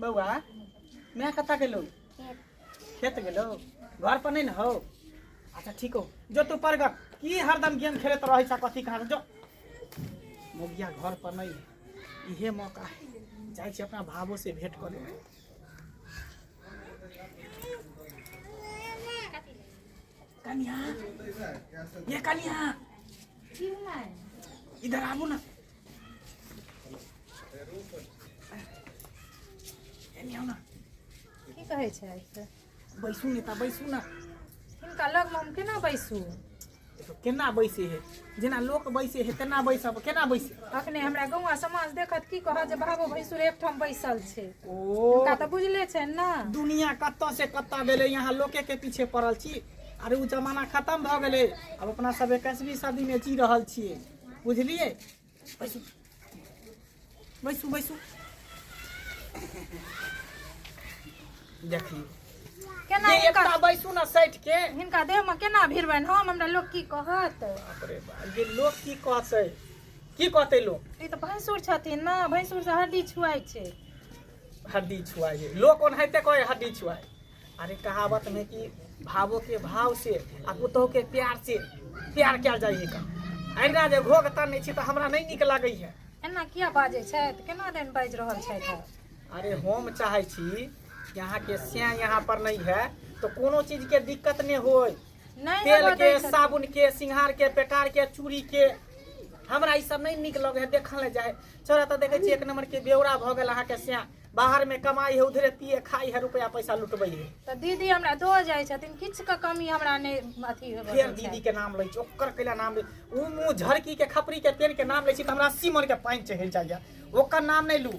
बौआ मैं कतऽ गेलो खेत गेलो घर पर नहीं न हो अच्छा ठीक हो जो तू परगट की हरदम गेम खेलत रहे छ कथी कहाँ जो मोगिया घर पर नहीं है। इहे मौका है जाए छी अपना भावो से भेंट कर लेबै कन्या ये कन्या इधर आबू ना की कहै छै से? बैसू ने ता बैसू ने हिनका लगमे हम केना बैसू देखो, केना बैसे है जेना लोक बैसे है तेना बैसब केना बैसे अखने हमरा गौवा समाज देखत की कहत जे बाबो भैंसुर एकठाम बैसल छै ओ हुनका तऽ बुझले छै ने दुनिया कतऽ से कतऽ भेलै यहाँ लोके के पीछे पड़ल छी अरे ओ जमाना खत्म भऽ गेलै अब अपना सब एकसवीं सदी में जी रहल छियै बुझलियै बैसू बैसू बैसू देखियौ केना जे हिनका एकटा बैसू ना सैठ के हिनका देहमे केना भिड़बनि हम हमरा लोक की कहत अरे बा, जे लोक की कहतै की कहतै लोक ई तऽ भैंसुर छथिन ने भैंसुर से हड्डी छुआइ छै हड्डी छुआए लोक ओनाहिते कहै हड्डी छुआए अरे कहावत में कि भावो के भाव से आ पुतोह के प्यार से प्यार कयल जाइए का अहिना जे घोघ तानै छी तऽ हमरा नहि नीक लागैए एना किया बाजै छथि केना दिन बाजि रहल छथि ओ? अरे हम चाहै छी कि अहाँके स्याह यहाँ पर नहीं है तो कोनो चीज के दिक्कत नहीं होय नहि तेल हेबऽ के दै छथि। साबुन के सिंगार के पेटार के चूड़ी के हमरा ई सब नहीं नीक लगे है देखल नहीं जाए चोरा तो देखे छी एक नंबर के बेवड़ा भऽ गेल अहाँके स्याह बाहर में कमाई है उधरे पिए खाई है रुपया पैसा लुटबै है तऽ दीदी हमरा दऽ जाइ छथिन किछुके कमी हमरा नहि अथी होबऽ फेर दै छै। दीदी के नाम लै छी ओकर कैला नाम लै ओ मुँह झड़की के खपरी के पेड़ के नाम लै छी तऽ हमरा सीमर के पानि चढ़ि जाइया ओकर नाम नहि लू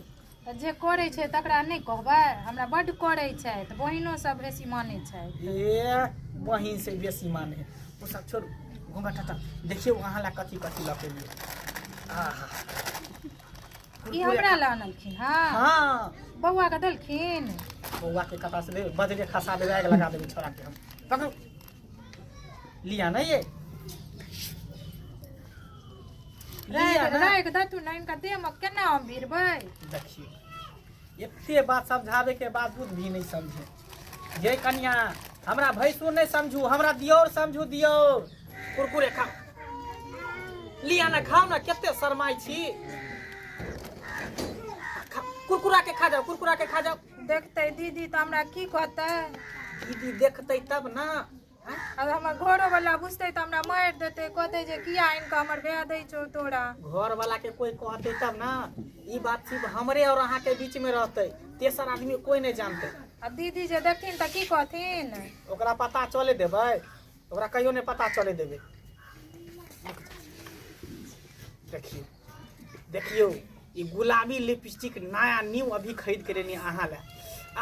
तऽ जे करै छै तकरा नहि कहबै हमरा बड्ड करै छथि बहिनो सब बेसी मानै छथि ए बहिन से बेसी माने है ओ सब छोड़ू घूंघट हटा देखियौ अहाँ ला कथी कथी लऽ के एलियै आहा ई हमरा लए अनलखिन हँ हाँ बौआ के देलखिन बौआ के कथा से बजरे खसा देवे आग लगा देवे छोरा के हम पकड़ो लिया ना ये लिया राख ना राख दे तू ना इनका देह में केना हम भिड़बै देखिए एते बात समझावे के बावजूद भी नहीं समझे ये कन्या हमरा भैंसू नहीं समझू हमरा दियोर समझू दियोर कुरकुरे खा लिया ना खाओ ना केते शरमाई छी खा- कुरकुरा के खा जाओ कुरकुरा के खा जाओ देखते दीदी तो हमरा की कहते दीदी देखते तब ना अब हमर घरो वाला बुझते तो हमरा मार देते कहते जे किया आनि के हमर ब्याह दै छौ तोरा घर वाला के कोई कहते तब ना ई बात सिर्फ हमरे और अहाँ के बीच में रहते तेसर आदमी कोई नहीं जानते अब दीदी जे देखथिन तऽ की कहथिन ओकरा पता चले देबै ओकरा कहियो नहीं पता चले देबै देखिए देखियौ ई गुलाबी लिपस्टिक नया न्यू अभी खरीद के लेनी अहाँ ले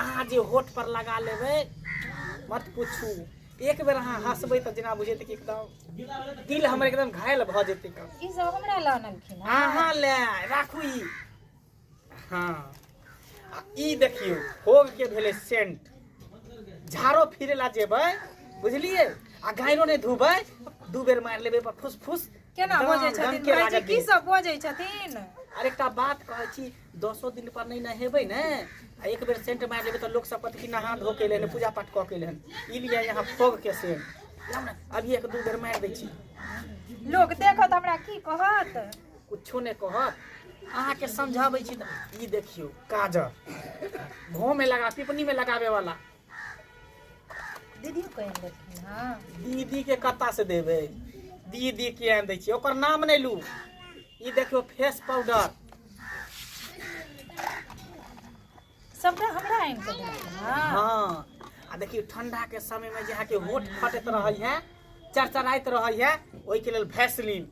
अहाँ जे होठ पर लगा लेबै मत पूछू एक बेर अहाँ हंसबै तऽ जेना बुझेतै कि एकदम दिल हमर एकदम घायल भऽ जेतै ई सब हमरा लऽ अनलखिन हँ। अहाँ ले राखू ई हाँ आ ई देखियो होग के भेले सेंट झाड़ो फिरे ला जेबै बुझलिए आ गायरो ने धुबै दू बेर मार लेबे पर फुस फुस केना दम- बजै दम छथिन के भाईजी लागत की दिन। सब बजै छथिन अरे एकटा बात कहै छी दसो दिन पर नहीं नहेबै ने आ एक बेर सेंट मार लेबै तऽ लोक सब कहत कि नहा धो के लेने पूजा पाठ कऽ के लेने ई लिए यहाँ फोग के सेंट जाउ ने, अभी एक दू बेर मार दै छी लोग देखत हमरा की कहत कुछो नहि कहत अहाँके समझाबै छी तऽ ई देखियौ काजर घोमे लगा पिपनीमे लगाबे वाला दीदी कहि देलखिन हँ दीदी के कत्ता से देबै दीदी के आनि दै छियै ओकर नाम नहि लू ई देखियौ फेस पाउडर सबटा हमरा आनि कऽ देलखिन हँ हाँ आ देखियौ ठंडा के समय में जे अहाँके होठ फटैत रहै है चरचराइत रहै है ओहिके लेल भैसलीन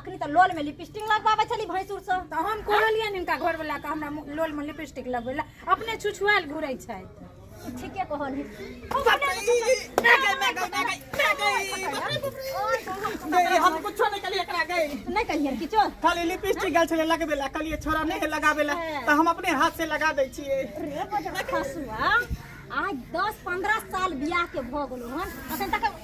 अखनी तऽ लोल में लिपस्टिक लगबाबै छली भैंसुर से तऽ हम कहलियै ने हिनका घरवला के हमरा मु- लोल में लिपस्टिक लगबै ला अपने छुछुआल घुरै छै ठीके कहल गई हम कुछो नहीं कलिए एकरा गई नहीं कहिए किछो खाली लिपस्टिक गल छले लगबे ला कलिए छोरा नहीं है लगाबे ला तो हम अपने हाथ से लगा दै छिए रे बजरा खसुआ आज दस पंद्रह साल बियाह के भऽ गेलो हन अखन तक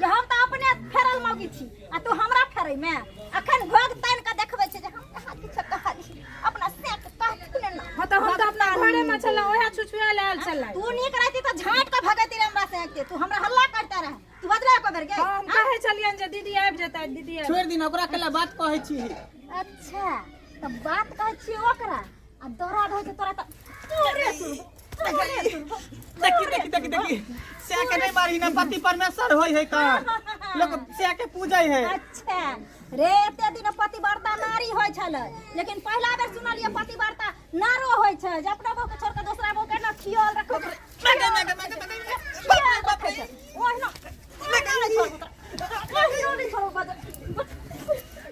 जे हम तऽ अपने फेरल मौगी छी आ तू हमरा फेरै मे अखन घोग तानि कऽ देखबै छै जे हम कहाँ किछो कहलियै अपना से के कहथिन ने हँ तऽ हम तऽ अपना घरे में छलहुँ ओहे छुछुआ लायल छलै तू नीक रहती तऽ झाँट कऽ भगैती रहे हमरा से के तू हमरा हल्ला करते रहे तू बदला को बेर गई हम कहे छलियन जे दीदी आबि जेतै दीदी आबि छोड़ि दिन ओकरा कला बात कहै छी अच्छा तऽ बात कहै छी ओकरा आ दौड़ा रहै छै तोरा तऽ तोरे तू देखी देखी देखी देखी से के नहीं मारी ना पति परमेश्वर होई है का लोग से के पूजै है अच्छा रे एते दिन पतिव्रता नारी होइ छल लेकिन पहिला बेर सुनलिए पतिव्रता नारो होइ छै जे अपना बहू के छोड़ के दोसरा बहू के ना खियाल रखो मैगे मैगे मैगे मैगे खियाल रखो छै ओहिना ओहिना नहि छोड़बो तोरा। ओहिना नहि छोड़बो बजर।